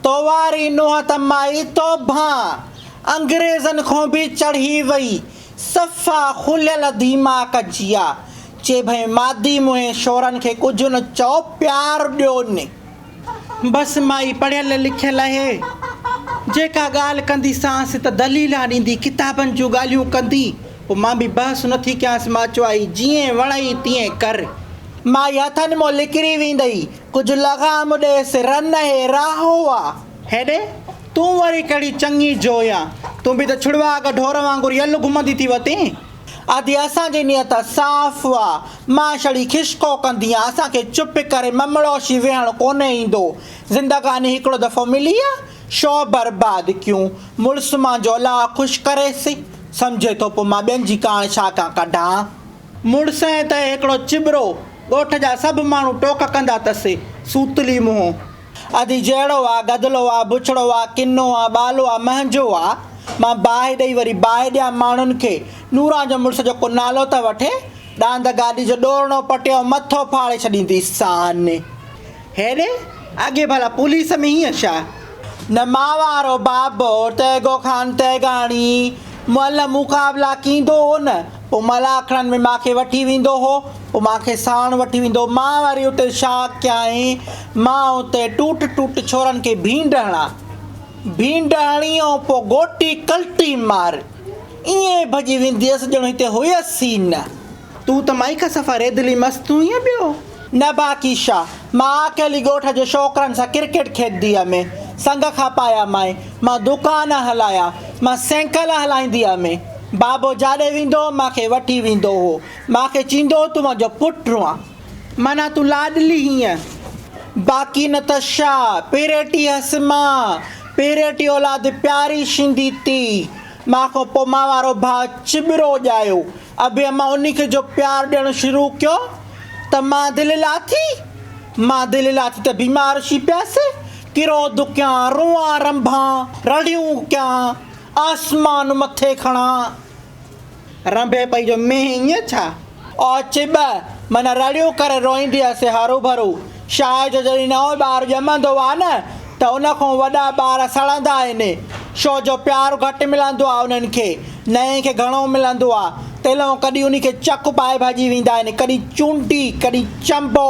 تو واري نوح ته مائي توبهان انگريزن کون به چڙهي وئي صفا کليل ديماڪ جيا چي ڀئي مادي منهين شورن کي ڪجهه نه چئو پيار ڏيو ني. بس مائي پڙهيل لکيل اهي جيڪا ڳالهه ڪندي سانس ته دليلا ڏيندي ڪتابن جون ڳالهيون ڪندي پو مان به بحث نه ٿي ڪيانس مان چوائي جيئن وڻئي تيئن ڪر مائي هٿن مون لڪري ويندئي ڪجهه لغام ڏيس رن اهي راهه هئا. هيڏي تون وري ڪهڙي چڱي جو يا. تون به ته ڇڙوا اڳ ڍور وانگر يل گهمندي ٿي وتين. ادي اسان جي نيت صاف آ. مان ڇڙي کشڪو ڪنديان. اسان کي چپ ڪري ممڙوشي ويهڻ ڪونهي ايندو. زندگاني هڪڙو دفعو ملي آ. شو برباد ڪيون. مڙس منهنجو الله خوش ڪريس. سمجهي ٿو پوء مان ٻين جي ڪاڻ ڇا ڪان ڪڍان. مڙس ۽ تنهن هڪڙو چٻرو، ڳوٺ جا سڀ ماڻهو ٽوڪ ڪندا تس، سوتلي منهن. ادي جهڙو آ، گدلو آ، بڇڙو آ، ڪنو آ، ٻالو آ، منهنجو آ. مان باهه ڏئي وري باهه ڏيان ماڻهن کي. نوران جو مڙس جو ڪو نالو ته وٺي. ڏاند گاڏي جو ڏورڻو پٽيو مٿو ڦاڙي ڇڏينديسان. هيڏي اڳي ڀلا پوليس ۾ هيئن ڇا؟ نما وارو بابو تيغو خان تيغاڻي مئل مقابلا ڪيندو هو نه، پوء مئل آکڙن ۾ مان کي وٺي ويندو هو. پوء مان کي ساڻ وٺي ويندو هو. مان وري اتي ڇا ڪيائين؟ مان اتي ٽوٽ ٽوٽ ڇورن کي ڀينڊ هڻان. ڀينڊ هڻي ۽ پوء گوٽي ڪلٽي مار. ائين ڀڄي ويندي هيس ڄڻ هتي هيس ئي نه. تون ته مائي کان صفا ريدلي مست هئينء پيو. نه باقي شاهه، مان اڪيلي ڳوٺ جي ڇوڪرن سان ڪرڪيٽ کيڏندي هئم. سنگ کپايا مائي، مان دوڪان هلايا، مان سينڪل هلائيندي هئم. بابو جاڏي ويندو هو، مان کي وٺي ويندو هو. مان کي چيندو هو، تون منهنجو پٽ هئين. معنيٰ تون لاڏلي هئين. باقي نه ته شاهه، پيريٽي هئس مان، پيريٽي اولاد پياري شيندي تي. مان کان پوء مان وارو ڀاء چٻرو ڄايو اڀي امان انهي کي جو پيار ڏيڻ شروع ڪيو ته مان دل لاٿي مان دل لاٿي ته بيمار ٿي پيس ڪرو دڪيان روئان رنڀان رڙيون ڪيان آسمان مٿي کڻان رنڀي پئي جو مينهن ائين ڇا؟ او چٻ! معنيٰ رڙيون ڪري روئيندي هسي هروڀرو. شاهه جو جڏهن نئون ٻار ڄمندو آ نه ته ان کان وڏا ٻار سڙندا آهن. شو جو پيار گهٽ ملندو آ انهن کي. نئين کي گهڻو ملندو آ. تيلئون ڪڏهن انهي کي چڪ پائي ڀڄي ويندا آهن، ڪڏهن چونڊي، ڪڏهن چنبو.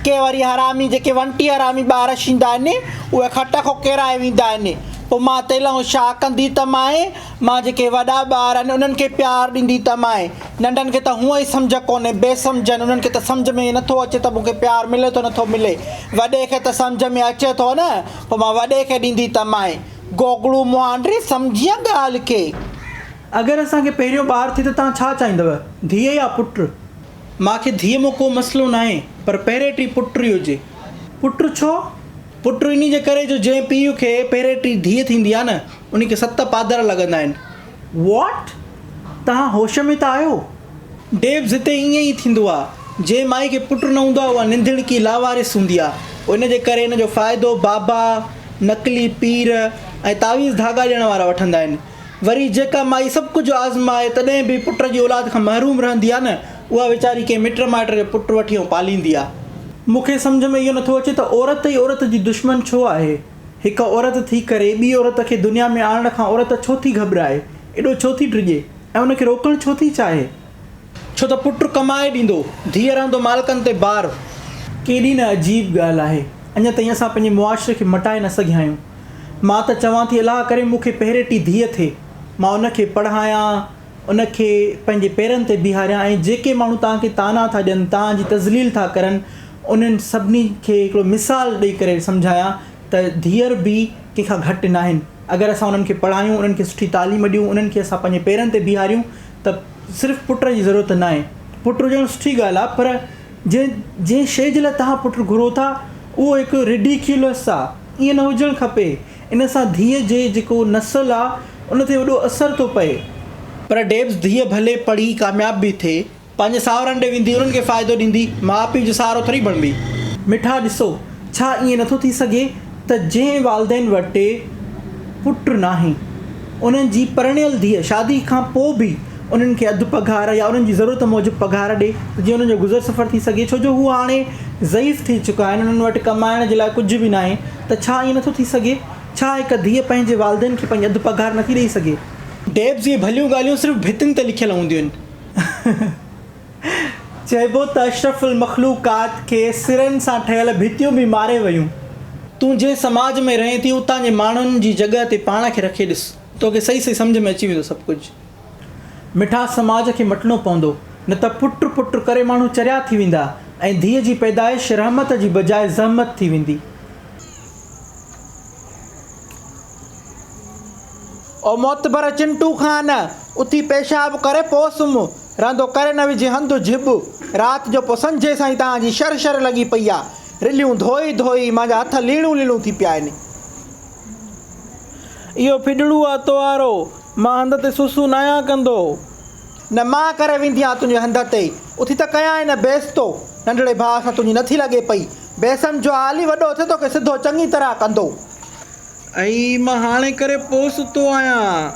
ڪي وري حرامي جيڪي ونٽي حرامي ٻار شيندا آهن اهي کٽ کان ڪيرائي ويندا آهن. پوء مان تيلئون شاهه ڪندي ته مائين! مان جيڪي وڏا ٻار آهن انهن کي پيار ڏيندي ته مائي ننڍن کي ته هونئن ئي سمجهه ڪونهي بي سمجهن انهن کي ته سمجهه ۾ نه ٿو اچي ته مون کي پيار ملي ٿو نه ٿو ملي وڏي کي ته سمجهه ۾ اچي ٿو نه پوء مان وڏي کي ڏيندي ته مائي گوگڙو مهانڊي سمجهينء ڳالهه کي. اگر اسان کي پهريون ٻار ٿئي ته توهان ڇا چاهيندؤ ڌيء يا پٽ؟ مان کي ڌيء مان ڪو مسئلو ناهي پر پهرين ٽي پٽ ئي هجي. پٽ ڇو؟ پٽ انهي جي ڪري جو جنهن پيء کي پهرين ٽي ڌيء ٿيندي آهي نه انهي کي ست پادر لڳندا آهن. What؟ توهان هوش ۾ ته آهيو؟ ڊيبز هتي ائين ئي ٿيندو آهي. جنهن مائي کي پٽ نه هوندو آهي اها ننڌڻڪي، لاوارث، هوندي آهي. ان جي ڪري ان جو فائدو بابا، نقلي پير ۽ تعويذ ڌاڳا ڏيڻ وارا وٺندا آهن. وري جيڪا مائي سڀ ڪجهه آزمائي تڏهن به پٽ جي اولاد کان محروم رهندي آهي نه اها ويچاري ڪنهن مٽ مائٽ جو پٽ وٺي ۽ پاليندي آ. مون کي سمجهه ۾ اهو نٿو اچي ته عورت ئي عورت جي دشمن ڇو آهي؟ هڪ عورت ٿي ڪري ٻي عورت کي دنيا ۾ آڻڻ کان عورت ڇو ٿي گهٻرائي، ايڏو ڇو ٿي ڊڄي ۽ ان کي روڪڻ ڇو ٿي چاهي؟ ڇو ته پٽ ڪمائي ڏيندو، ڌيء رهندو مالڪن تي بار. ڪيڏي نه عجيب ڳالهه آهي. اڃا تائين اسان پنهنجي معاشري کي مٽائي نه سگهيا آهيون. مان ته چوان ٿي الله ڪري مون کي پهريٽي ڌيء ٿئي. مان ان کي پڙهايان. ان کي پنهنجي پيرن تي بيهاريان ۽ جيڪي ماڻهو توهان کي طعنا ٿا ڏين، توهان جي تذليل ٿا ڪرن، انهن سڀني کي هڪڙو مثال ڏئي ڪري سمجهايان ته ڌيئر به ڪنهن کان گهٽ ناهن. اگر اسان انهن کي پڙهايون، انهن کي سٺي تعليم ڏيون، انهن کي اسان پنهنجي پيرن تي بيهاريون ته صرف پٽ جي ضرورت ناهي. پٽ هجڻ سٺي ڳالهه آهي پر جنهن جنهن شيء جي لاء توهان پٽ گهرو ٿا، اهو هڪ Ridiculous آهي. ائين نه هجڻ کپي. ان سان ڌيء جي جيڪو نسل آ ان تي وڏو اثر ٿو پئي. پر ڊيبز ڌيء ڀلي پڙهي ڪامياب به ٿئي پنهنجي ساهرن ڏي ويندي انهن کي فائدو ڏيندي ماء پيء جو سهارو ٿوري بڻبي. مٺا ڏسو ڇا ائين نٿو ٿي سگهي ته جنهن والدين وٽ پٽ ناهي انهن جي پرڻيل ڌيء شادي کان پو به انهن کي اڌ پگهار يا انهن جي ضرورت موجب پگهار ڏي ته جيئن انهن جو گذر سفر ٿي سگهي ڇو جو هو هاڻي ضعيف ٿي چڪا آهن انهن وٽ ڪمائڻ جي لاء ڪجهه به ناهي ته ڇا ائين نٿو ٿي سگهي؟ ڇا هڪ ڌيء پنهنجي والدين کي پنهنجي اڌ پگهار نٿي ڏئي سگهي؟ ڊيبز اهي ڀليون ڳالهيون صرف ڀتين تي لکيل هونديون آهن. چئبو ته اشرف المخلوقات کي سرن سان ٺهيل ڀتيون به ماري ويون. تون جنهن سماج ۾ رهين ٿي اتان جي ماڻهن جي جڳهه تي پاڻ کي رکي ڏس. توکي صحيح صحيح سمجهه ۾ اچي ويندو سڀ ڪجهه. مٺا سماج کي مٽڻو پوندو، نه ته پٽ پٽ ڪري ماڻهو چريا ٿي ويندا ۽ ڌيء جي پيدائش رحمت جي بجاء زحمت ٿي ويندي. او معتبر چنٽو خان! اٿي پيشاب ڪري پوء سمهه. رهندو ڪري نه وجهه هنڌ جهٻ. رات جو پوء سنجهي سائين توهان جي شر شر لڳي پئي آ. رليون ڌوئي ڌوئي مانجا هٿ ليڻون ليڻون ٿي پيا آهن. اهو ڦڏڙو آ توهارو، مان هنڌ تي سسون ناهيان ڪندو. نه مان ڪري ويندي آهيان تنهنجي هنڌ تي، اٿي ته ڪيان ئي نه بيس تو ننڍڙي ڀاء سان تنهنجي نٿي لڳي پئي، بيسم جو آ علي وڏو اٿئي توکي سڌو چڱي طرح ڪندو. اهي ئي مان هاڻي ڪري پوء ستو آهيان.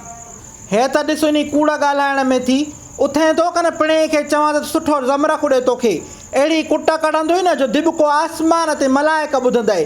هيء ته ڏس انهي ڪوڙ ڳالهائڻ ۾ ٿي اٿئين ٿو ڪن پڻهين کي چوان ته سٺو زمرڪ اڏي توکي اهڙي ڪٽ ڪڍندوئي نه جو دٻڪو آسمان تي ملائڪ ٻڌندئي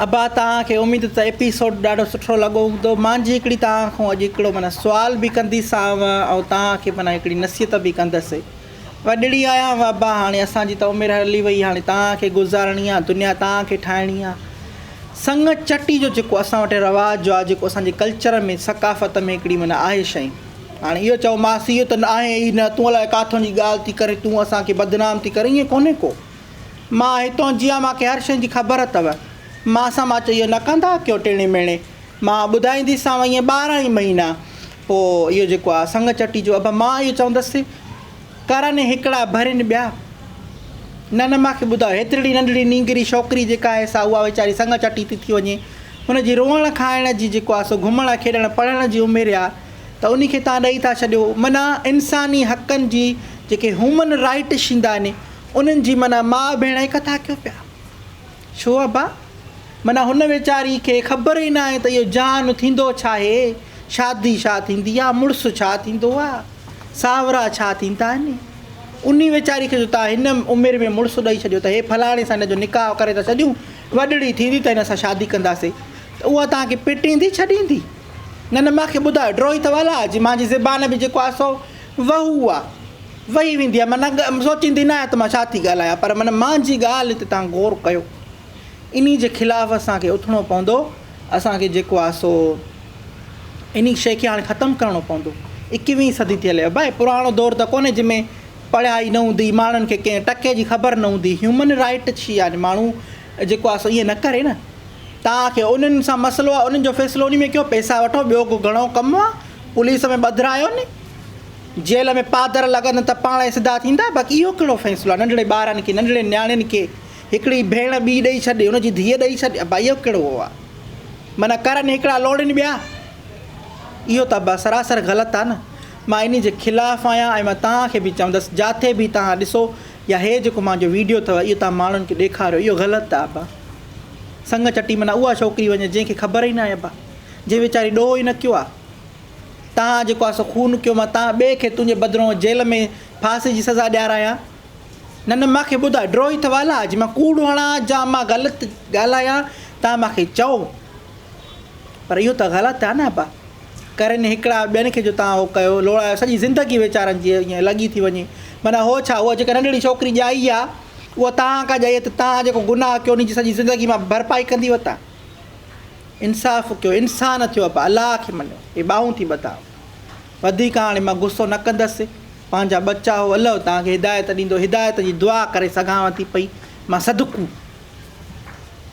ابا توهان کي اميد ته ايپيسوڊ ڏاڍو سٺو لڳو هوندو مان جي هڪڙي توهان کان اڄ هڪڙو معنيٰ سوال به ڪنديسانو ۽ توهان کي معنيٰ هڪڙي نصيحت به ڪندس وڏڙي آهيانو ابا هاڻي اسان جي ته عمر هلي وئي هاڻي توهان کي گذارڻي آهي دنيا توهان کي ٺاهڻي آهي سڱ چٽي جو جيڪو اسان وٽ رواج جو آهي جيڪو اسان جي ڪلچر ۾ ثقافت ۾ هڪڙي معنيٰ آهي شئي هاڻي اهو چئو ماسي اهو ته آهي ئي نه تون الائي ڪاٿون جي ڳالهه ٿي ڪرين تون اسان کي بدنام ٿي ڪرين ائين ڪونهي ڪو مان هتون جيان مان کي هر شيء جي خبر اٿو. مان سان مان چيو اهو نه ڪندا ڪيو ٽيڻي ميڻي مان ٻڌائينديسانو ائين ٻارهن ئي مهينا پوء اهو جيڪو آهي سڱ چٽي جو اڀ مان اهو چوندس ڪرن هڪڙا ڀرين ٻيا نه نه مان کي ٻڌاء هيترڙي ننڍڙي نينگري ڇوڪري جيڪا آهي سا اها ويچاري سڱ چٽي ٿي ٿي وڃي هن جي روئڻ کائڻ جي جيڪو آهي سو گهمڻ کيڏڻ پڙهڻ جي عمر آهي ته انهي کي تان ڏئي ٿا ڇڏيو منا انساني حقن جي جيڪي هيومن رائيٽ شيندا ني انهن جي معنيٰ ماء ڀيڻ هڪ ٿا ڪيو پيا. ڇو ابا؟ معنيٰ هن ويچاري کي خبر ئي ناهي ته اهو جهان ٿيندو ڇا آهي، شادي ڇا ٿيندي آهي، مڙس ڇا ٿيندو آهي، ساهورا ڇا ٿيندا آهن. انهي ويچاري کي جو توهان هن عمر ۾ مڙس ڏئي ڇڏيو ته هي فلاڻي سان هن جو نڪاح ڪري ٿا ڇڏيون، وڏڙي ٿيندي ته هن سان شادي ڪنداسين ته اها توهان کي پٽيندي ڇڏيندي؟ نه نه مان کي ٻڌايو، ڊروهي ته ولا جي مان جي زبان ۾ جيڪو آهي سو وهو اها وهي ويندي آهي. معنيٰ سوچيندي نه آهيان ته مان ڇا ٿي ڳالهايان، پر معنيٰ منهنجي ڳالهه تي توهان غور ڪيو. انهي جي خلاف اسان کي اٿڻو پوندو. اسان کي جيڪو آهي سو انهي شيء کي هاڻي ختم ڪرڻو پوندو. ايڪويهين صدي ٿي هلي آهي ڀائي، پراڻو دور ته ڪونهي جنهن ۾ پڙهائي نه هوندي، ماڻهن کي ڪنهن ٽڪي جي خبر نه هوندي. هيومن رائيٽ ڇي آهي، ماڻهو جيڪو آهي سو ائين نه ڪري نه. توهان کي انهن سان مسئلو آهي، انهن جو فيصلو انهي ۾ ڪيو، پئسا وٺو، ٻيو ڪو گهڻو ڪم آهي. پوليس ۾ ٻڌرايو ني جيل ۾ پادر لڳندن ته پاڻ ئي سڌا ٿيندا باقي اهو ڪهڙو فيصلو آهي ننڍڙي ٻارن کي ننڍڙين نياڻين کي هڪڙي ڀيڻ ٻي ڏئي ڇڏي ان جي ڌيء ڏئي ڇڏي ابا اهو ڪهڙو هو آهي معنيٰ ڪرن هڪڙا لوڙين ٻيا اهو ته ابا سراسر غلط آهي نه مان انهي جي خلاف آهيان ۽ مان توهان کي به چوندس جاٿي به توهان ڏسو يا هي جيڪو مانجو ويڊيو اٿو اهو توهان ماڻهن کي ڏيکاريو اهو غلط آهي ابا سنگ چٽي معنيٰ اها ڇوڪري وڃي جنهن کي خبر ئي ناهي ابا جنهن ويچاري ڏوهه ئي نه ڪيو آ. تان جيڪو آ سو خون ڪيو مان تان ٻئي کي تنهنجي بدرون جيل ۾ ڦاسي جي سزا ڏيارايان. نه نه مان کي ٻڌاء ڊروهي ته والا جي مان ڪوڙ هڻان جا مان غلط ڳالهايان تان مان کي چئو. پر اهو ته غلط آ نه ابا. ڪرين هڪڙا ٻين کي جو تان اهو ڪيو لوڙايو سڄي زندگي ويچارن جي ائين لڳي ٿي وڃي. معنيٰ هو ڇا اها جيڪا ننڍڙي ڇوڪري ڄائي آ اها تان ڪا ڄائي آ ته تان جيڪو گناهه ڪيو انهي جي سڄي زندگي مان ڀرپائي ڪندي وتان. انصاف ڪيو انسان ٿيو ابا الله کي مڃو هي ٻانهون ٿي ٻڌان وڌيڪ هاڻي مان غصو نه ڪندس پنهنجا ٻچا هو الله توهان کي هدايت ڏيندو هدايت جي دعا ڪري سگهانو ٿي پئي مان صدقو